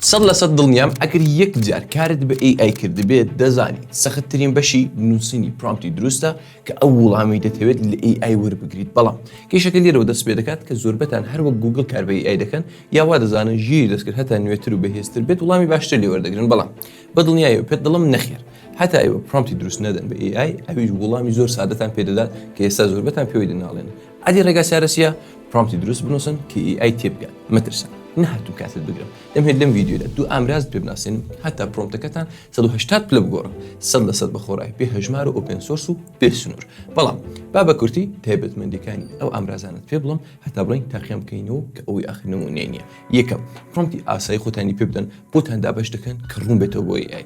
سەد لە سەد دڵنیام ئەگەر یەک جار کارت بە ئەی ئای کردبێت دەزانی سەخت ترین بەشی نوسینی پرۆمتی دروستە کە ئەو ووڵامی دەتەوێت لە ئەی ئای وەربگریت بەڵام کێشەکە لێرەوە دەست پێ دەکات کە زۆربەتان هەر وەک گووگڵ کار بە ئەی ئای دەکەن یا وا دەزانن ژیری دەستکرد هەتا نوێتر و بەهێزتر بێت وڵامی باشتر لێ وەردەگرن بەڵام بە دڵنیایەوە پێت دڵم نەخێر هەتا ئێوە پرۆمتی دروست نەدەن بە ئەی ئای ئەویش ووڵامی زۆر سادەتان پێ دەدات کە ئێستا زۆربەتان پێوەی دەناڵێنن ئەدی ڕێگا چارە چیە؟ پرۆمپتی دروست بنووسن کە ئی ئای تێبگات مەترسن نەهاتوو کاتت بگرم دەمهێت لەم ڤیدیۆدا دوو ئامراز پێ بناسێنم هەتا پرۆمپتەکەتان 180 پلە بگۆڕن سەد لە سەد بە خۆڕای پێ هەژمار و ئۆپێن سۆرس و پێ سنوور بەڵام با بە کورتی تایبەتمەندەکانی ئەو ئامرازانت پێ بڵم هەتا بڵین تاقیان بکەینەوە کە ئەوی ئاخر نمونەیە نییە یەکەم پرۆمپتی ئاسایی خۆتانی پێ بدەن بۆتان دابەش دەکەن کە ڕوون بێتەوە بۆ ئای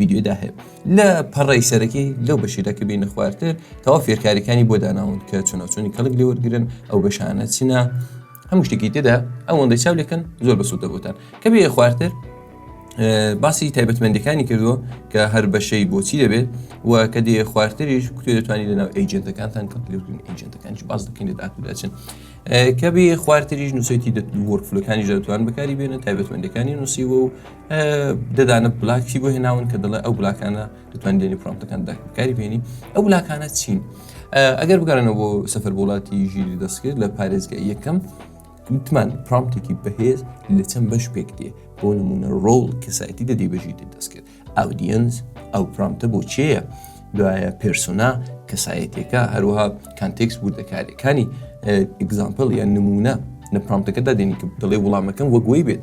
ویدیۆدا هەیە لە پەڕی سەرەکی لەو بەشیدا کە بینە خوارتر تەوا فێرکاریەکانی بۆ داناون کە چۆناچۆنی کەڵک لێوەرگن ئەو بەشانە چینە هەموو شتێکی تێدا ئەوەندەی چاو لەکەن زۆر بەسوودە بۆتان کە بێ خوارتر باسی تایبەتمەندەکانی کردووە کە هەر بەشەی بۆچی دەبێت و کە دێ خوارتریش کوێ دەتوانانی لەناو ئەیجنتەکانتان کەلگرن ئەیجنتەکانش باز دەکەین لە داکوداچن کە بێ خوارتریش نووسێتی وەرفلەکانی دەتوان بەکاری بێنە تایبەتمەندەکانی نووسیوە و ددانە بلاکی بۆ هێناون کە دەڵێ ئەو بلاکانە دەتوان دێنی پرۆمتەکان دەکاری بینی ئەو بلاکانە چین ئەگەر بگەڕێنەوە بۆ سەفەر وڵاتی ژیری دەستکرد لە پارێزگە یەکەم وتمان پرامتێکی بەهێز لە چەند بەش پێک دێ بۆ نمونە ڕۆڵ کەسایەتی دەدی بەژی دەستکرد ئاودینس ئەو پرامتە بۆ چێە دوایە پرسونا کەسایەتەکە هەروەها کانتێکس بوو دەکارەکانی ئگزامپل یان نمونە لە پرامتەکەدا دێنی کە دەڵێ وڵامەکەم وەگوۆی بێت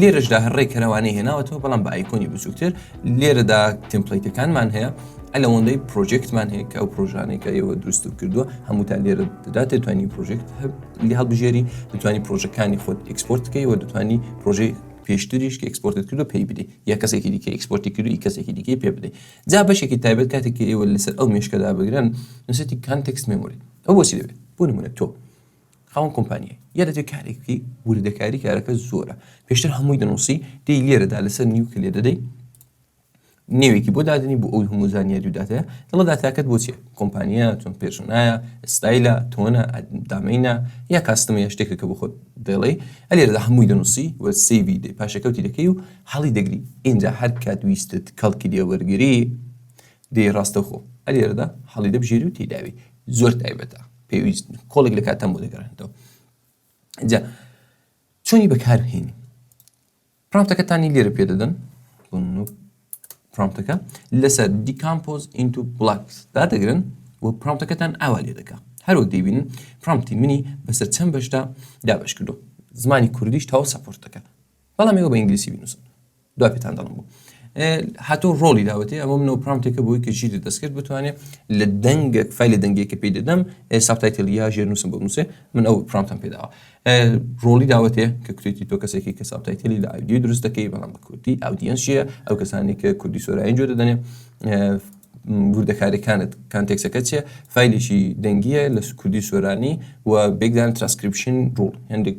لێرەشدا هەر ڕێک کەرەوانەی هێناوەتەوە بەڵام بە ئایکۆنی بچووکتر لێرەدا تمپلیتەکانمان هەیە ئەلەوەندەی پرۆژێکتمان هەیە کە ئەو پرۆژانێکە ئێوە دروست و کردووە هەمووتان لێرە دەدات توانی پرۆژێکت لە هەڵبژێری دەتوانی پرۆژەکانی خۆت ئەکسپۆرت بکەی و دەتوانی پرۆژەی پێشتریش کە ئەکسپۆرتت کردو پێی بدەی یا کەسێکی دیکە ئەکسپۆرتی کردوی کەسێکی دیکەی پێ بدەی جا بەشێکی تایبەت کاتێکی ئێوە لەسەر ئەو مشکەدا بگرن نووسەتی کانتەکس مێموری ئەو بۆچی دەبێت بۆ نمونە تۆ خاوەن کۆمپانیای یە دەبێ کارێک بکەی وردەکاری کارەکە زۆرە پێشتر هەمووی دەنووسی دێی لێرەدا لەسەر نیو کلێ دەدەی نێوێکی بۆ دادنی بۆ ئەوی هەموو زانیاری و داتەیە دڵە داتاکەت بۆ چیە کۆمپانیا چۆن پێشنایە ئستایلە تۆنە دامینە یا کاستمە یا شتێکە کە بۆ خۆت دەڵێ ئەلێرەدا هەمووی دەنووسی و سیوی دێ پاشەکەوتی دەکەی و حاڵی دەگری ئینجا هەر کات ویستت کەڵکی لێوەرگری دەی ڕاستەوخۆ ئەلێرەدا هەڵی دەبژێری و تێداوی زۆر تایبەتە پێویست کۆڵێک لە کاتەم بۆ دەگەڕێنەوە جا چۆنی بەکاربهێنی پرامتەکەتانی لێرە پێ دەدەن پرامتەکە لەسەر دیکامپۆز ئینتو بلاکس دا دەگرن و پرامتەکەتان ئاوا لێ دەکا هەروەک دەیبینن پرامتی منی بەسەر چەند بەشدا دابش کردو زمانی کوردیش تاو سەپۆرت دەکەن بەڵام ئێوە بە ئینگلیسی بنووسن دوا پێتان دەڵم بوو هاتۆ ڕۆڵی داوەتێ ئەمە منەوە پرامتێکە بۆی کە ژیری دەستکرد بتوانێت لە دەنگە فیل لە دەنگێکە پێی دەدەم ساپتایتل یا ژێر نووسم بۆ نووسێ من ئەو پرامتم پێداوە ڕۆڵی داوەتێ کە کوێتی تۆ کەسێکی کە ساپتایتلی لە ئایدی دروست دەکەی بەڵام بە کوردی ئاودینسیە ئەو کەسانی کە کوردی سۆراین جۆ دەدەنێ وردەکارەکانت کانتێکسەکە چێ فیلێکی دەنگیە لە کوردی سۆرانی و بێکدان ترانسکرپشن ڕوو هەندێک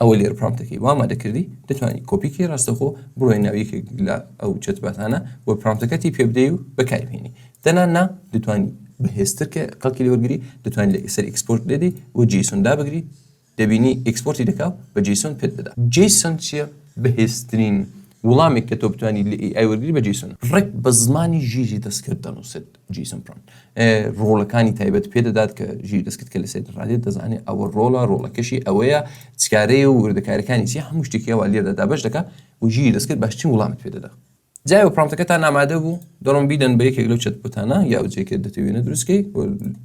ئەوە لێرە پرامتەکەی وا ئامادە کردی دەتوانی کۆپی کەی ڕاستەخۆ بڕۆی ناو یەکێک لە ئەو چەتباتانە و پرامتەکەتی پێ بدەی و بەکاری بهێنی دەنا نا دەتوانی بەهێزتر کە کەڵکی لێوەرگری دەتوانانی لە ئیسەر ئیکسپۆرت لێدەی و جیسون دابگری دەبینی ئیکسپۆرتی دەکا و بە جیسون پێت دەدا جیسون چییە بەهێزترین وڵامێک کە تۆ بتوانی لە ئێ ئای وەرگری بە جیسون ڕێک بە زمانی ژیری دەستکرد دەنووسێت. جیسن برۆن ڕۆڵەکانی تایبەت پێدەدات کە ژیر دەستکت کە لە سێت ڕادێت دەزانێت ئەوە ڕۆڵە ڕۆڵەکەشی ئەوەیە چکارەیە و وردەکارەکانی چی هەموو شتێکیەوە لێدا دابش دەکە و ژیر دەستکرد باشترین وڵامت پێدەدا جای و پرامتەکە تا نامادە بوو دەڵم بیدەن بە یەکێک لەو چەت بتانە یا جێکە دەتەوێنە دروستکەی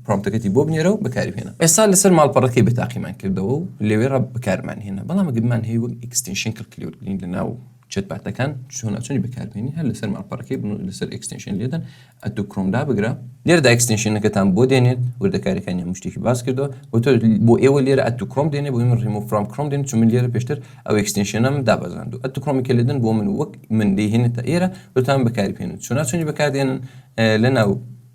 پرامتەکەتی بۆ بنێرە و بەکاری بێنە ئێستا لەسەر ماڵپەڕەکەی بەتاقیمان کردەوە و لەوێ ڕە بەکارمان هێنا بەڵام گرمان هەیە وەک ئیکستنشن کلکلیوت لە ناو چەتباتەکان چۆن ئەتونی بەکاربێنی هەر لەسەر ماڵپەڕەکەی بن و لەسەر ئەکستنشن لێدەن ئەتو کرۆم دابگرە لێرە ئەکستنشنەکەتان بۆ دێنێت وردەکاریەکانی هەموو شتێکی باس کردەوە بۆ تۆ بۆ ئێوە لێرە ئەتو کرۆم دێنێ بۆی من ڕیمۆ فرام کرۆم دێن چون من لێرە پێشتر ئەو ئەکستنشنەم دابەزاند و ئەتو کرۆمی کە لێدن بۆ من وەک من دەیهێنێتە ئێرە وتان بەکاری پێێن چۆناچونی بەکاردێنن لەناو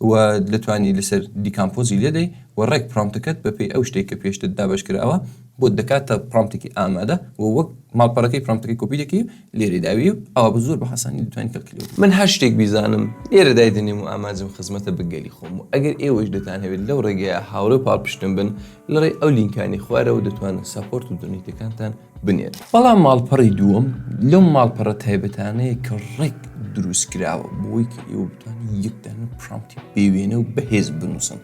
و دەتوانی لەسەر دیکامپۆزی لێدەی و ڕێک پرۆمتەکەت بەپێی ئەو شتێک کە پێشتر دابەش کراوە بۆت دەکاتە پرۆمتێکی ئامادە و وەک ماڵپەڕەکەی پرۆمتەکەی کۆپی دەکەی و لێرەی داوی و ئەوا بە زۆر بە حەسانی دەتوانی کەلکیلۆت من هەر شتێک بیزانم لێرە دایدەنێم و ئامانجم خزمەتە بە گەلی خۆم و ئەگەر ئێوەش دەتانهەوێت لەو ڕێگەیە هاوڕێ و پاڵپشتم بن لەڕێی ئەو لینکانەی خوارەوە دەتوانن سەپۆرت و دۆنەیتەکانتان بنێن. بەڵام ماڵپەڕی دووەم لەو ماڵپەڕە تایبەتانەیە کە ڕێک دروست کراوە بۆی کە ئێوە بتوانین یەکدان و پرامتی بێوێنە و بەهێز بنووسن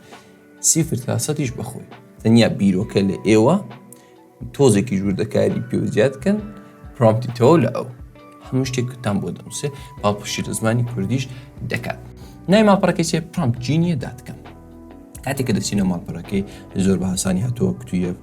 سیفر تاسەتیش بەخۆی تەنیا بیرۆکە لە ئێوە تۆزێکی ژووردەکاری پێ زیاد بکەن پرامتی تەوە لە ئەو هەموو شتێکتان بۆ دەنووسێ پاڵپشی لە زمانی کوردیش دەکات نای ماپەڕەکەی چێ پرامپ جینیە داتکەم کاتێک کە دەچینە ماڵپەرەکەی زۆر بە هاسانی هاتووە کتویە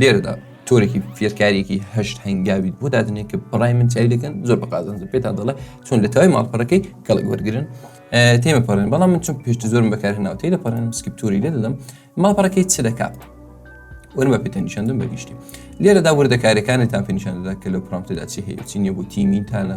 لێرەدا تۆرێکی فێرکاریەکی هەشت هەنگاوی بۆ دادنێ کە بەڕای من چای دەکەن زۆر بە قازانجە پێتان دەڵێ چۆن لە تای ماڵپەرەکەی کەڵک وەرگن تێمە پەڕێن بەڵام من چون پێشتە زۆرم بەکار ناوتەی لە پەڕێن سکپتوری لێ دەدەم ماڵپەرەکەی چ دەکات وەرم بە پێتە نیشاندم بەگشتی لێرەدا وردەکارەکانتان پێ نیشاندەدا کە لە پرامتدا چی هەیە چی نیە بۆ تیمی تانە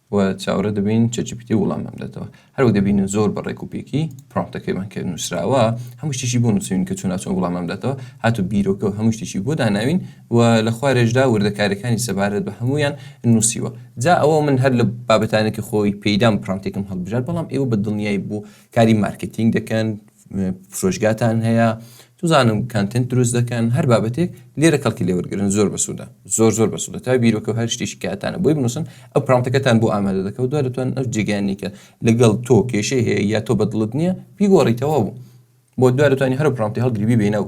و چاوەڕێ دەبین چەچپیتی وڵامم دەتەوە هەروەک دەبین زۆر بە ڕێک و پێکی پرۆمپتەکەیمان کرد نووسراوە هەموو شتێکی بۆ نووسین کە چوناچۆ وڵامم دەتەوە هاتو بیرۆکە و هەموو شتێکی بۆ داناوین و لە خوارێشدا وردەکاریەکانی سەبارەت بە هەموویان نووسیوە جا ئەوە من هەر لە بابەتانێکی خۆی پێیدام پرۆمپتێکم هەڵبژارد بەڵام ئێوە بە دڵنیای بۆ کاری مارکێتینگ دەکەن فرۆشگاتان هەیە توزانم کانتنت دروست دەکەن هەر بابەتێک لێرە کەڵکی لێوەرگرن زۆر بەسوودە زۆر زۆر بەسوودە تا بیرۆکە هەر شتێکی کاتانە بۆی بنووسن ئەو پرانتەکەتان بۆ ئامادە دەکەوت دوای لەتوان ئەو جێگەیانی کە لەگەڵ تۆ کێشەی هەیە یا تۆ بەدڵت نییە بیگۆڕیتەوە بوو بۆ دوای لەتوانی هەر پرانتی هەڵگری بینە و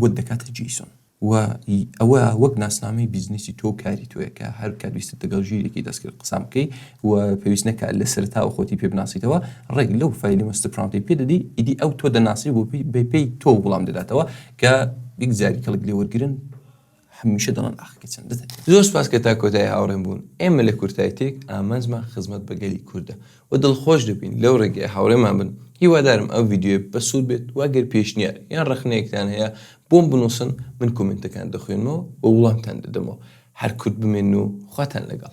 بۆت دەکاتە جیسۆن و ئەوە وەک ناسنامەی بیزنسی تۆ و کاری تۆیە کە هەر کات ویستت دەگەڵ ژیرێکی دەستکرد قسان بکەی و پێویست نەکات لە سەرتاوە خۆتی پێ بناسیتەوە ڕێک لەو فایلی مەستە پرانتی پێ دەدی ئیدی ئەو تۆ دەناسی و بە پێی تۆ وڵام دەداتەوە کە یەک جاری کەڵک لێوەرگرن هەمیشە دڵن ئاخکە چەندە تەنیا. زۆر سوپاس کە تا کۆتایی هاوڕێم بوون، ئێمە لە کورتایتێک ئامانجمان خزمەت بە گەلی کوردە و دڵخۆش دەبین لەو ڕێگەیە هاوڕێمان بن، هیوادارم ئەم ڤیدیۆیە بە سوود بێت و گەر پێشنیار یان ڕەخنەیەکتان هەیە بۆم بنووسن من کۆمێنتەکان دەخوێنمەوە و وڵامتان دەدەمەوە، هەر کورد بمێنن و خواتان لەگەڵ.